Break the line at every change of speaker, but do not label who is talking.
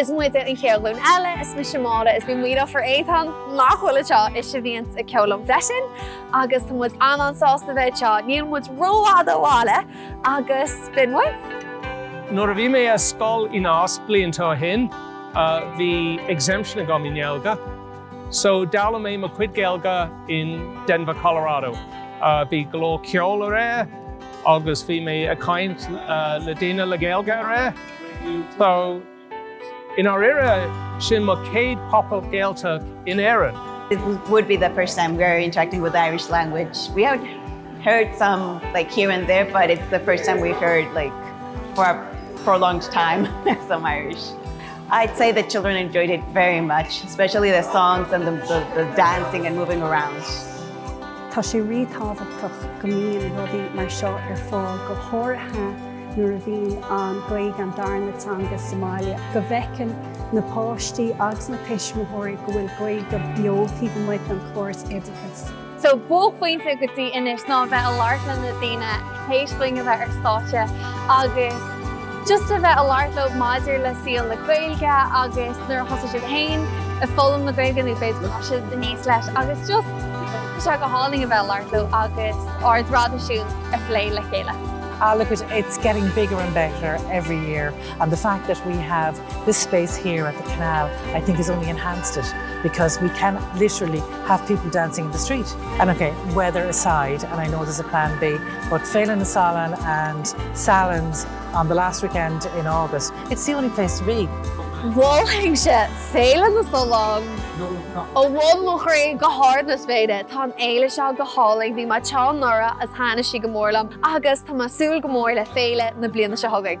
Is muide an chéad ghlúin eile, is mise Máire is bíonn mo dheirfiúr Étáin nach bhfuil anseo is a bhíonns ag ceol liom freisin agus tá muid an-an-sásta bheith anseo, níl muid rófhada ó bhaile agus b'in muid. Nuair a bhí mé ar scoil i Nás blianta ó shin, bhí exemption agam i nGaeilge. So, d'fhoghlaim mé mo chuid Gaeilge in Denver, Colorado. Bhí go leor ceol ar Zoom agus bhí mé ag caint le daoine le Gaeilge ar Zoom. So, i ndáiríre, sin mo chéad Pop-Up Gaeltacht in Éirinn. It would be the first time we are interacting with the Irish language. We have heard some like here and there, but it's the first time we've heard like for a prolonged time some Irish. I'd say the children enjoyed it very much, especially the songs and the, the, the dancing and moving around. Tá sé rí-tábhachtach go mbíonn rudaí mar seo ar fáil go háirithe nuair a bhíonn an Gaeilge an darna teanga sa mbaile, go bhfeiceann na páistí agus na tuismitheoirí go bhfuil Gaeilge beo taobh amuigh den chóras oideachais. So, buaicphointe go dtí anois ná a bheith i labhairt le na daoine théis dúinn a bheith ar stáitse agus just a bheith i labhairt leo maidir le saol na Gaeilge agus nuair a thosaigh siad féin ag foghlaim na Gaeilge nó b'fhéidir go d'fhás siad aníos leis agus just bhí sé go hálainn a bheith i labhairt leo agus ár dtraidisiún a phlé le chéile. Ah, look, it's getting bigger and better every year and the fact that we have This space here at the canal I think has only enhanced it because we can literally have people dancing in the street and ok weather aside and I know there's a plan B but Féile na Sollán in Sallins on the last weekend in August it's the only place to be. Mholfainnse Féile na Sollán ó bhun mo chroí go hard na spéire. Tá an fhéile seo go hálainn, bhí mé anseo anuraidh agus thaitnigh sí go mór liom agus tá mé ag súil go mór le féile na bliana seo chugainn.